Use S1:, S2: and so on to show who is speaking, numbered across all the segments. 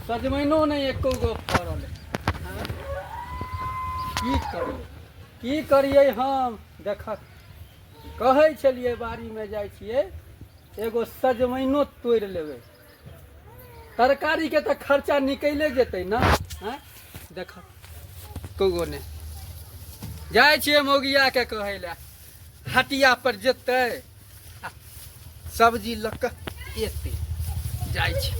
S1: सजमैनो नहि एको गो फड़ल हँ? की करियै की करियै हम देख कहै छलियै बाड़ीमे जाइ छियै एगो सजमैनो तोड़ि लेबै तरकारी के तो खर्चा निकले जेते ना हैं देख कौगो ने जाए छिए मौगिया के कहे ले हटिया पर जेते आ सब्जी लऽ कऽ एते जाए छी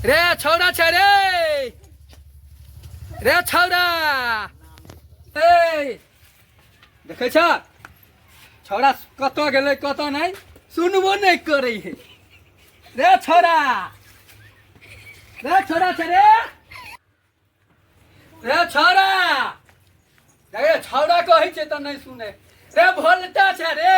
S1: रे छौड़ा छै रे रे छौड़ा ए देखै छ छौड़ा कतऽ गेलै कतऽ नहि सुनबो नहि करै है रे छौड़ा रे छौड़ा छ रे रे छौड़ा रे छौड़ा कहै छै तऽ नहि सुने रे भोलटा छ रे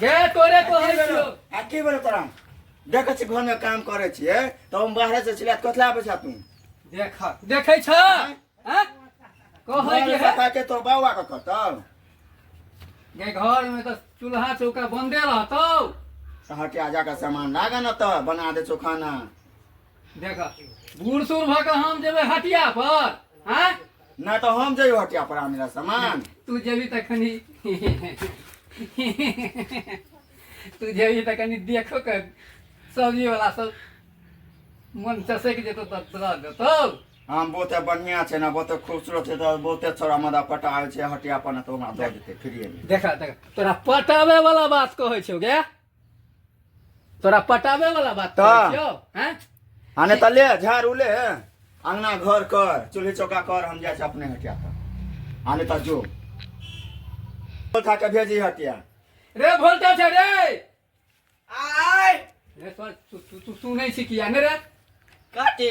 S1: गे तोरे कहै छियो आ की भेल तोरा
S2: देखै छी घरमे काम करै छियै तऽ हम बाहरे से छिला कथला आबै छा तू देख देखै
S1: छ हैं कहै के है पता के तोर
S2: बाबा के कतल
S1: गे घर में तो चूल्हा चौका बंदे रहतौ हटिया
S2: जाकर सामान लागा न तऽ बना दे चोखाना देख
S1: बूढ़ सूढ़ भऽ कऽ हम जेबै हटिया पर आँय ना तो हम
S2: जाइयो हटिया पर आने ला सामान तू जेबी तऽ कनि
S1: तू जेबी तऽ कनि देखो के सब्जी वाला सब मन चसैक जेतौ तऽ तोरा देतौ हाँ बहुते
S2: बढ़िया छै ना बहुते खूबसूरत छै तो बहुते छोरा मदा पटा आयल छै हटिया पर ना तो हमरा दऽ देते फ्री में देखा देखा तोरा
S1: पटाबे वाला बात कहै छौ गे तोरा पटावे वाला बात तऽ। करै छियौ हैं आ नहि तऽ ले
S2: झाड़ू ले अंगना घर कर चूल्ही चौका कर हम जाइ छी अपने हटिया पर आ नहि तऽ जो उठा के भेजी हटिया रे भोलटा
S1: छै रे
S3: आय रे तोर
S1: तू तू- तू सुनै छी किया ने रे काटे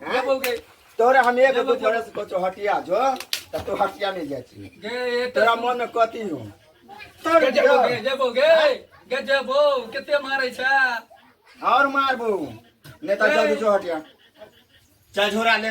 S2: हाँ? बोलगे तोरे हम एक दो बरस को तो हटिया जो तो तू हटिया नहीं जाती गे तेरा मन
S1: में कती
S2: हूँ तोरे जबो गे जबो गे
S1: हाँ? गे जबो कितने मारे छा और
S2: मार बो नेता जल्दी जो हटिया चल झोरा ले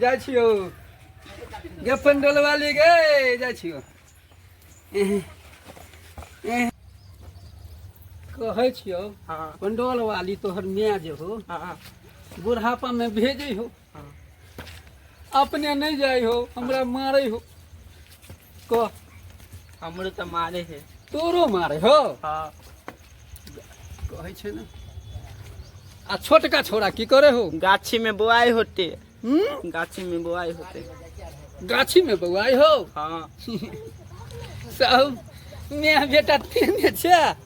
S1: जाइ छियौ गे पंडोल वाली गे जाइ छियौ एह, एह। कहै छियौ हाँ पंडोल
S3: वाली तोहर
S1: माय जे हो हाँ
S3: बुढ़ापा
S1: में भेजे हो हाँ। अपने नहीं जाए हो हमरा मारे हो को
S3: हमरो तऽ मारे है तोरो मारे हो
S1: हाँ कहै छै ने आ छोटका छोरा की करे हो गाछी में बोआई
S3: होते हम्म? गाछी
S1: में बोआई होते
S3: गाछी में बौआई
S1: हो हाँ सब मैं बेटा तेने छै